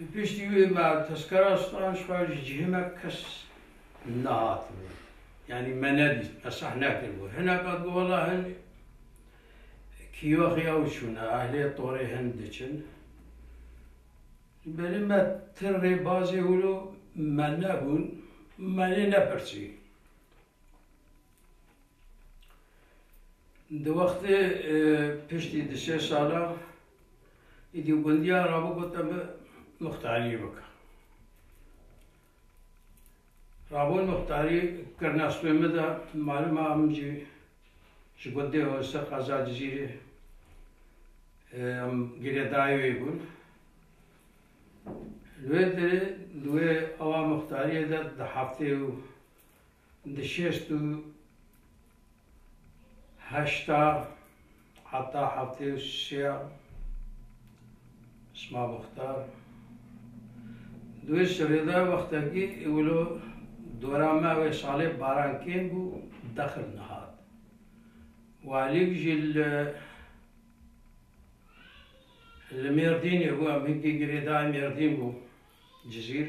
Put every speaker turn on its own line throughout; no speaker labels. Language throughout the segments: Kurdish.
Li piştî wê me tezkera stan ji xwe ji cihê me kes nehatibû. Yanî me nebîst, me sah nekiribû. Hineka di wela hin kîyoxê ew çûne, ehlê torê hin diçin. Ji berî me ti rêbazê wilo me nebûn, me lê nepirsî. Di wextê piştî di sê salan Îdî gundiya rabo got em muxtariyê bike. Rabon muxtarî kirina stûyê min de malum e em jî ji gundê Hosir qeza Cizîrê em girêdayê wê bûn. Li wê derê di wê awa muxtariyê de di heftê û Di şêst û heşta heta heftê û şêya Sima Muxtar di wê şerê de wextekî wilo dora me wê salê baran kêm bû dexil nehat. Walîk jî li li Mêrdînê bû, em hinkî girêdayê Mêrdîn bû, Cizîr.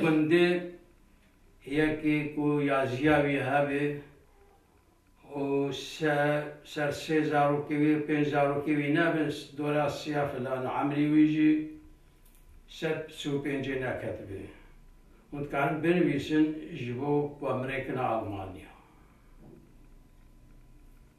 Gundê yekê ku ya jiya wî hebê û ser sê zarokê wî û pênc zarokê wî nebin, dora siya filan e. Emrî wî jî sed si û pêncê neketibê. Hûn dikarin binivîsin ji bo ku em rêkina Almanya.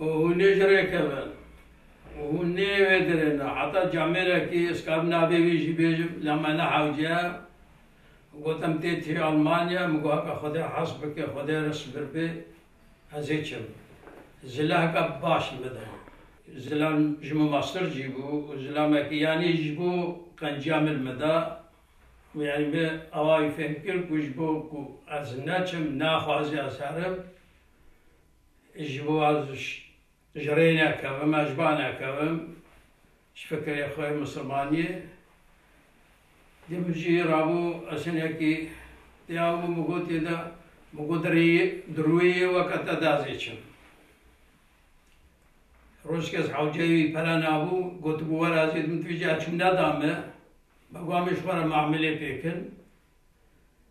Û hûn nê ji rê kevin. Û hûn nê wê dirêne. Heta camêrekî ez kabim navê wî jî bêjim la me nehewce. Gotim tê tî Almanya. Min got heke Xwedê hes bike, Xwedê re sibir bê ez ê çim. Zila heke baş li min de ye. Zilam ji min meztir jî bû û zilamekî yanî ji bo qenciya min li min da. Yanî min awa wî fêhm kir ku ji bo ku ez neçim naxwaze ez herim. Ji bo ez ji rê nekevim, ez ji ba nekevim, ji fikirê xwe yê misilmaniyê. Dê min jî rabû ez hinekî dêya min bi gotê de min got di rûyê yê we ke te de ez ê çim. Rojekê ez hewceyê wî pere nabû, gotibû were ez ê di min tu vê cî ez çûm neda min. Bego em ê ji xwe re mamilê pê bikin.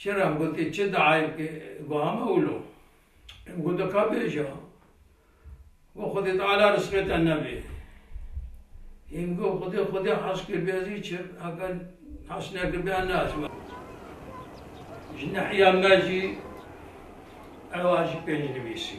Çira em gotê çi diayê bike wiha me wilo. Em gote ka bêje we Xwedê Teala risqê te nebe. Em got Xwedê Xwedê has kiribe ez îçi heke has nekiribe ez neaçme. Ji nehiya me jî ew a jî pêncnivîsî.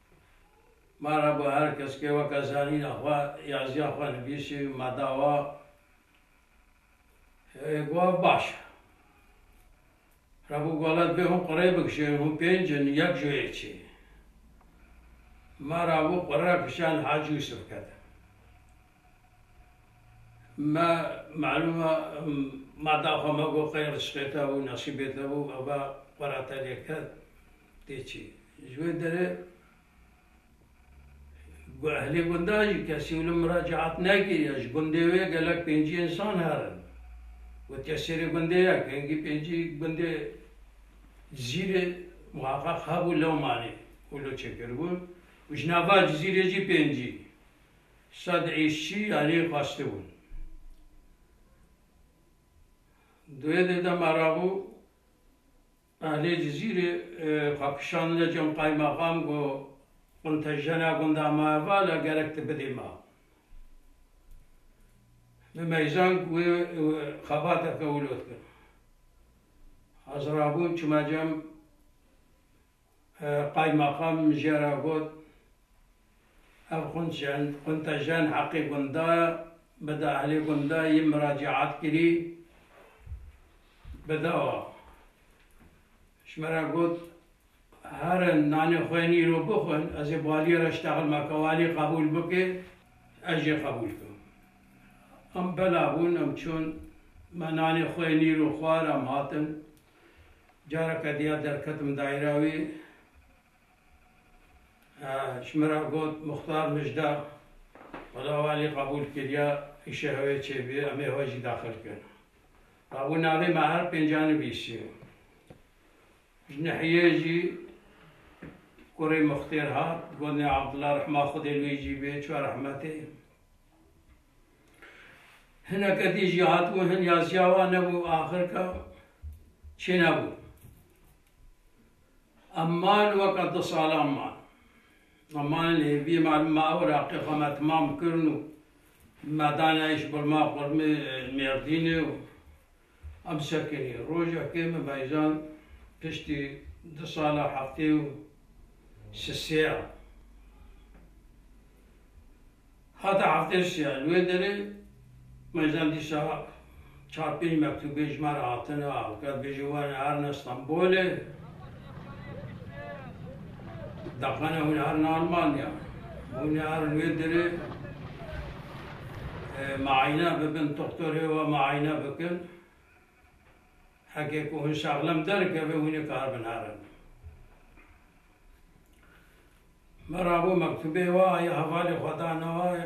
Merhaba her keskê weke zanîna xwe yaziya xwe nivîsî me dawa hê goh baş e. Rebû gola divê hûn qurê bikişîn hûn pênc in yek ji wê çê. Me rabû qure kişand Hacî Yusuf ketin. Me malûm e mada xwe me got qey rişxêta bû, nexşîbêta bû, eva xwe ra tevlê ket tê çî. Ji wê derê ehlê gundan jî kesî wilo miracaat nekiriye. Ji gundê wê gelek pêncî însan herin. Gotiye sêrê gundê ye, pêngî pêncî gundê Cizîrê muheqeq hebû lewma nê wilo çêkiribûn û ji nava Cizîrê jî pêncî. Sed êşçî aliyê xwestê bûn. Duyedê de me rabû ehlê Cizîrê xwe kişandine cem qaymaxam got, Quntejena gunda ma heval e gerek tu bidê ma. Min meyzank wê xebateke wilo dikin. Ez rabûm çûme cem. Qaymaxam mijya ra got, Ev xunçen, xuntejen heqê gunda ye, bide ehlê gunda yê miracîat kirî, bide wa. Ji min re got, Herin, nanê xwe yên îro bixwin, ez ê baliyê re ştexil me ke walî qebûl bike, ez jê qebûl kim. Em bela bûn, em çûn, me nanê xwe yên îro xwar, em hatin, Careke diya derketim daîra wî, ji min re got, Muxtar Mijda, wela walî qebûl kiriya îşê hewê çê bî, em ê hewe jî daxil kin. Dabû navê me her pênc a nivîsî. Ji nihiyê jî kurê Muxtêr hat, got nê Abdullah rehma Xwedê li wî jî bê, çi rehmetê. Hineke dî jî hatibû hin ya ziya wan nebû axirka çênebû. Em mal weka du salan man. Em malên hêvî malum me ew Iraqê xwe me timam kirin û me dane îş bilma xurmê Mêrdînê û Em sekinî rojekê min bejand piştî du sala heftê û sisêya. Hate heftê sêya li wê derê bejand dîsa çar pênc mektûbê ji me re hatine. Her bêje wene erna Stenbolê. Daxwene hûn herin Almanya. Hûn herin wê dirê maîne bikin, doktorê we maîne bikin. Heke ku hûn şaxlem derikeve hûn ê karibin herin. Me rabû mektubê we aye hevalê xwe danaye.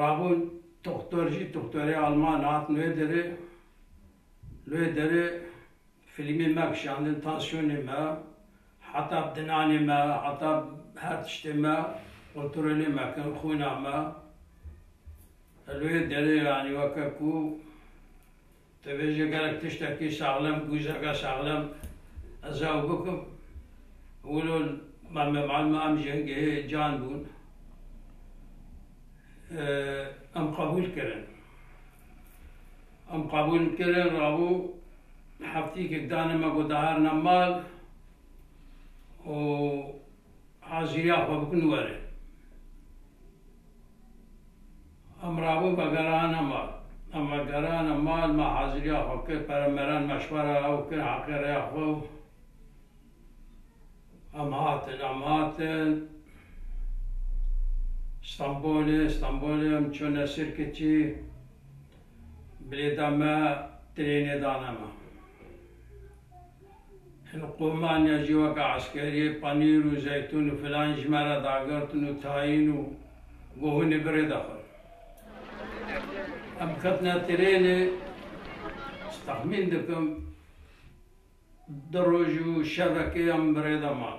Rabûn toxtor jî toxtorê alman hat nuê derê. Nuê derê filîmê me kişandin, tansiyonê me, heta dinanê me, heta her tiştê me kontrolê me kirin, xwîna me. Nuê derê yanî weke ku Tu bêje gelek tiştekî saxlem, guzeke saxlem ez ew bikim. Wilo Mame Malma em jengehê can bûn. Em qebûl kirin. Em qebûl kirin, rabû heftîkek dane me ku diherine mal û hazîriya xwe bikin were. Em rabûn me gerane mal. Em me gerane mal, me haziriya xwe kir, pere meren meşwere ew kir heqê rêya xwe û em hatin. Em hatin Stenbolê, Stenbolê em çûne Sirkiçî, bilêta me trênê dane me. Hilqûmaniya jî weke eskeriyê panîr û zeytûn û filan ji me re dagirtin û tayîn û gohûnê bi rê de xwend. Em ketine trênê, ez texmîn dikim du roj û şevekê em bi rê de man.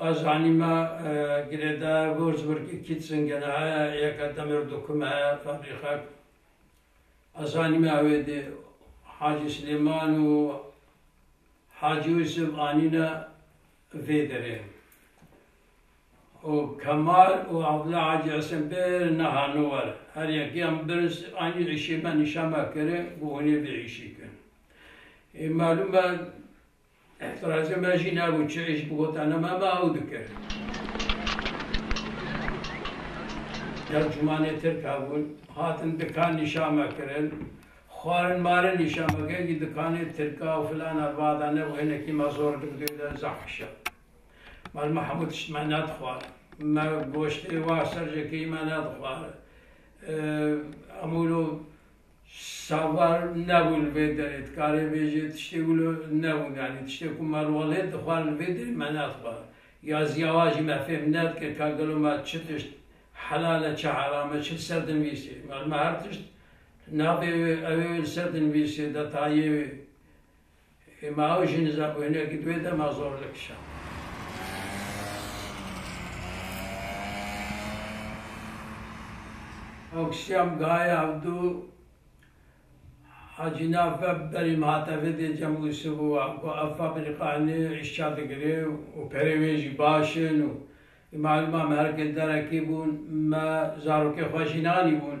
Barzanî ma girêdayê Würzburg Kitzin Genaya Yeka Demir Dokume Fabrîka ku Barzanî ma wê dê Hacî Silêman û Hacî Yusuf anîne vê derê û Kemal û Abdullah Hacî Hesen pir nehane wer. Her yekiyan birz anî îşê me nîşan me kiri ku hûnê vê îşê kirin. Ê malûm e Îhtiracê me jî nebû çi îş bigotane me me ew dikir. Tercumanê Tirk hebûn, hatin dikan nîşan me kirin, xwarin marin nîşan me kirin kî dikanê Tirka û filan erbada ne û hinekî me zor digidoyê der zehişa. Mal me hemû tişt me nedixwar. Me goştê wan serjekeyî me nedixwar. Hemû lo Şahbal nebû li vê derê, dikarê bêjê tiştê wilo nebû yanî tiştê ku me rolê dixwar li vê derê me naxwar ya ziyawa jî me fêm nedikir ka gelo me çi tişt helal e çi heram e çi li ser dinvîsê me her tişt navê wê ew ê wê li ser dinvîsê detayê wê Ma ew jî nizam û hinek di wê de ma zor dikişand. Akşam gaya hevdu hacîna ve berî min hate vidê Cem Yusuf û ku ev fabrîkanê îşça digire û perê wê jî baş in û malima me herkê derekê bûn me zarokê xwe jî nanîbûn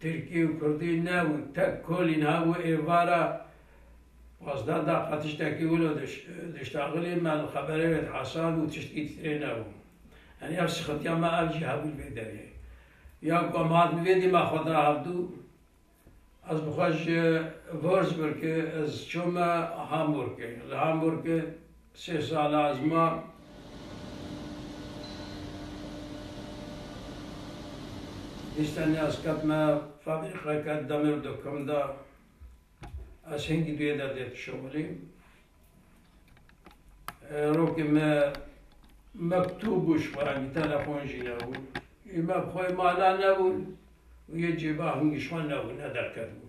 Tirkî û Kurdî ne û tek kolîn hev û êvara xwezda da qe tiştekî wilo diştaxilî me li xeberê wê dihesab û tiştî ditirê ne bû. Yanî ev sixintiya me ev jî hebû li vê derê. Ya ku em hatin vê dî me xwe da hevdû ez bi xwe ji Würzburgê ez çûme Hamburgê. Li Hamburgê Sê sal a ez mam. Dîstanê ez ketime fabrîqeke demir dokim de. Ez hingî duyê de dê dişomirîm. Rokê me mektûb û ji xwe re telefon jî nebû. Î me bi xwe yê mala nebûn û yê cêba hingî ji xwe nebû, nederketibûn.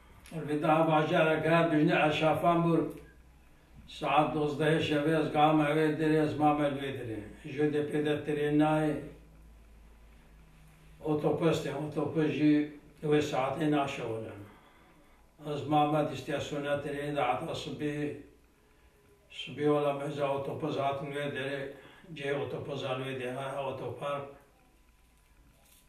Rivîtaha bajarek her bijne ez şafan bûr. Saet dozdehê şevê ez gama ewê derê ez mame li wê derê. Jodê pê de trên nayê. Otopes tê, otopes jî di wê saetê naşewile. Ez mame di îstasyona trênê de heta sibê. Sibê wela meza otopes hatin wê derê. Cihê otopesa li wê derê heye otopark.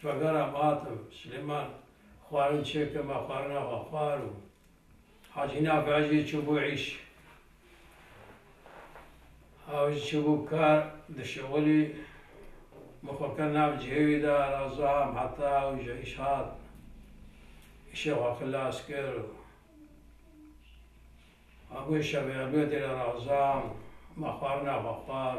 Şvagara Matem, Silêman, xwarin çêke ma xwarina xwe xwar û Hacî Nafiya jî çûbû îş. Ew jî çûbû kar, dişewilî. Min xwe kir nav cihê wî de Razam heta ew ji îş hat. Îşê xwe xilas kir û ma bûye şevê Elwedê re Razam, ma xwarina xwe xwar.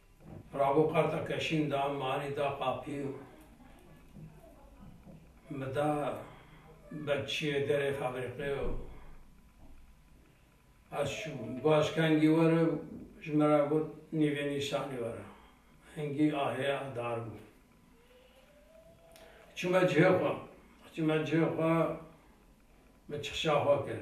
Bravo qarta keşîn da manî da qapî û mi da bekçiyê derê febrîqê û ez çûm. Başkengî were û ji min re got nîvê nîşanî were. Hingî ahêya dar bû. Çûme cihê xwe. Çûme cihê xwe min çixşa xwe kir.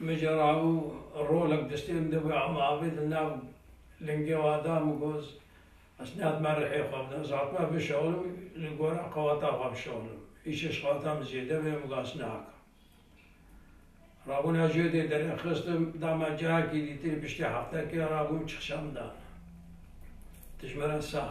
Min jî rabû rolek destê min de bû em avê di nav lingê wan de min got ez nihatimme rihê xwe bidim, ez hatime bişewlim li gora qewata xwe bişewlim. Îşeş qewata min zêde be min got ez nihaka. Rabûna jê dê derê xistim da me cayekî dî tê piştî heftekê rabûm çixşa min da. Dijmera sax.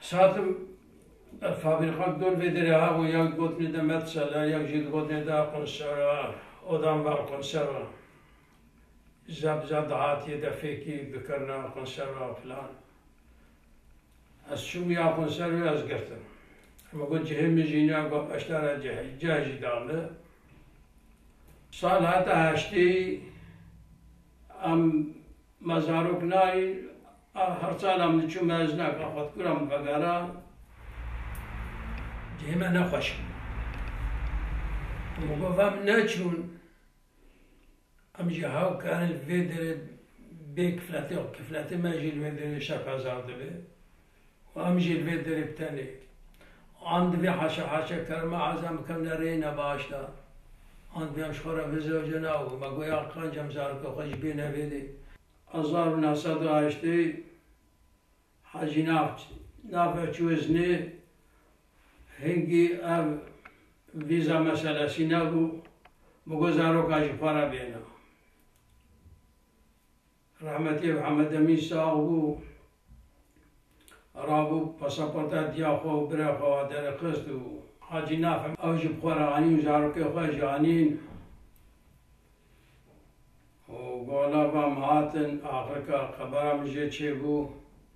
Satim fabrîkan dûr vê derê hebû yek digotinê de Medsela yek jî digotinê de Qunsera odan bar Qunsera ja bi ja dihatiyê de fêkî bikirina Qunsera filan Ez çûm ya Qunser wê ez girtim min got cihê min jî nîya got beşdara cihê cih jî da min Sal heta heştê Em me zarok nayîn a herçand em diçûn me ez ne ka xwed kura min vegera cihê me ne xweş bû. Min got em neçûn em jî hew karin vê derê bê kifletê kifletê me jî li vê derê şeka zaf dibe. û em jî li vê derê bi tenêk an divê haşa haşa kerma ezan bikevne rêyê ne baş de an divê em ji xwe re vizojine û me goya qanc em zarokê xwe jî bêne vê dê. Hezar û neh sed û heştê Hacî Navç navê çû iznê hingî ev vîza meselesî nebû, me got zaroka ji xwe re bêne. Rehmetê Mihemed Emîn sax bû. Rabû pasaporta diya xwe û birê xwe ve derixist û Hacî Nafî ew ji bi xwe re anî û zarokê xwe jî anîn û gola van hatin. Axirka qebara min jê çêbû.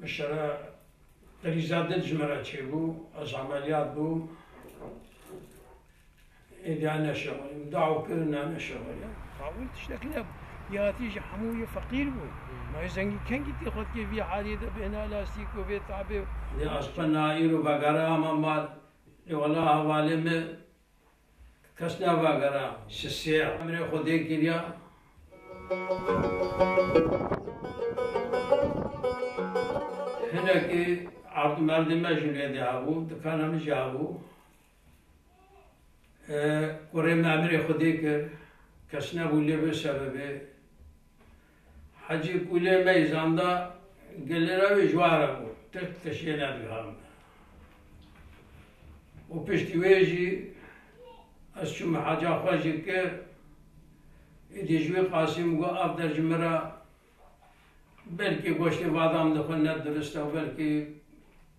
Mişara Qilîza Dil ji me re çêbû, ez emeliyat bûm, êdîya neşewirîm, daw kirin ne neşewirîm. Tawil tiştekî ne yatî ji hemû yê feqîr bû. Ma yê zengî kengî tê xwe dikê vî halî de bêhna lastîk û vê tabê. Lê ez qe na îro vegere hema mal. Lê wela hevalê me Kes navagera ji sê emirê Xwedê kiriya. Hinekî erdûmerdê me jî lê de hebû, dikana min jî hebû. Kurê min emirê Xwedê kir, kes nebû lê bi sebebê Hecî Kûlê Mey zanda Gilirewî ji were bû, Tirk tiştê nedigarin. Û piştî wê jî ez çûm heca xwe jî kir. Êdî ji wî Qasîm got, Ev der ji min re belkî goştê badam li xwe ne dirist e û belkî,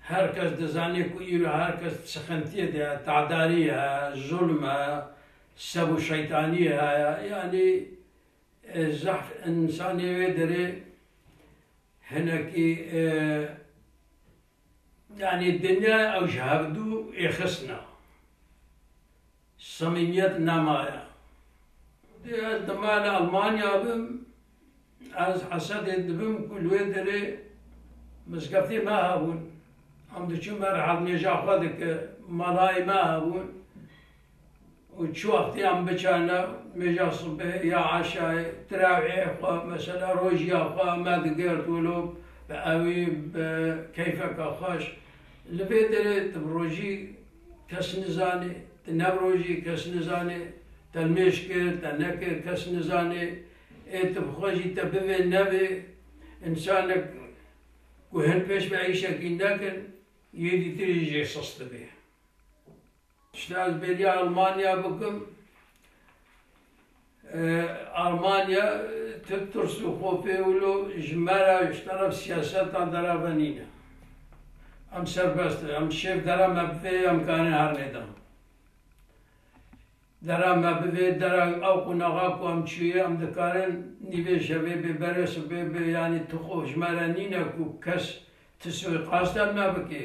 Her kes dizane ku îro her kes di sixintiyê de ye, tadarî ye, zulm e, sev û şeytanî heye. Yanî zehf însanê wê derê hinekî yanî dinyaya ew ji hevdu ê xisna. Samîmiyet ne maye. Dê ez di mala Almanya bim, ez Hesedê dibim ku li wê derê mizgeftê me hebûn. Em diçin ber hevnêja xwe dike. Malayê me hebûn û çi wextê em biçarne nêja sibê ya eşayê tirewê xwe mesela rojiya xwe me digert wilo bi ewî bi keyfeke xweş. Li vê derê tu bi rojî Kes nizane, ti ne rojî, kes nizane, te nûş kir, te nekir, kes nizane, ê ti bi xwe jî te bibê, nebê, însanek ku hin pêş ve îşekî nekin, yêdî tê jî jê sis dibê. Tişta ez bêriya Almanya bikim, Almanya tu tirs û xofê wilo ji me re ji teref siyasetan dereve nîne. Em serbest in. Em şêv dera me bivê em karên her nêdan. Dera me bivê dera ew qunaxa ku em çûye em dikarin nîvê şevê bê berê sibê bê yanî tu xo ji me re nîne ku kes ti suîqaste me bikê.